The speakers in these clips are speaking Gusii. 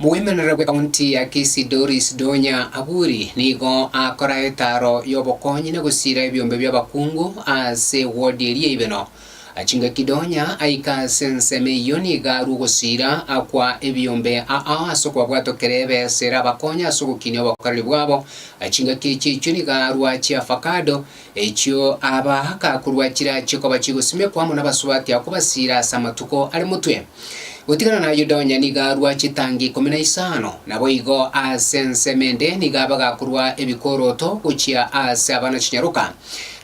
Moemerere bw'ekaunti ya Kisii Doris Donya Aburi nigo akora etaro y'obokonyi na gosiira ebiombe bi'abakungu ase ewodi eria y'Ibeno. Chingaki Donya aika ase ensemo eyio nigo arwa ogosiira akwa ebiombe ao ase okobabwata okere ebesa erabakonye ase ogokinia obokoreri bwabo. Chingaki echi echio nigo arwa chi'afakado, Echio aaba akakorwa chira chikoba chigosimekwa amo nabasubati ao kobasiira ase amatuko are motwe. Gotigana na Yuda onye nigo arua chitangi ikomi na isano. Naboigo ase ensemo ende nigo aba gakorwa ebikoroto gochia ase abana chinyaroka.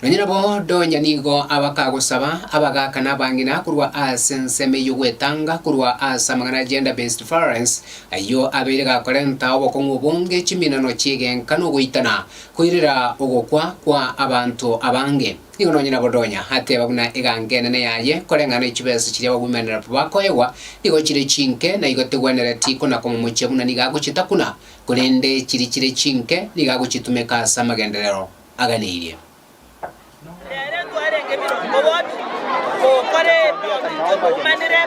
Nonya nabo donya nigo aba kagosaba abagaaka na abang'ina korwa ase ensemo eyio gwetanga korwa ase amang'ana a gender based violence ayio abeire gakorenta obokong'u obonge chiminano chi'egenka nogoitana Koirera ogokwa kwa abanto abange. Nigo nonye Nabodonya ateba buna eganga enene yaye, koreng'ana ne chibesa chiria bagoimanera bakoegwa, nigo chire chinke, na igo tegwenereti konakwa momochie buna nigo agochitakuna, korende chiri chire chinke, nigo agochitumeka ase amagenderero aganeirie. Nere twarenge birongo bobi, gokora ebio intwe twaumanire,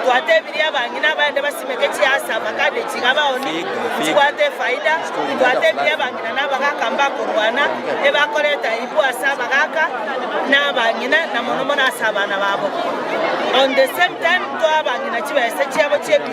twatebirie abang'ina abaende basimeke chiasaba kande chiga baoni chibwate efaida, twatebirie abang'ina na abagaaka mbakorwana ebakorete aibu ase abagaaka na abang'ina na mono mono ase abana babo. On the same time toa abang'ina chibesa chiabo chi'ebiombe.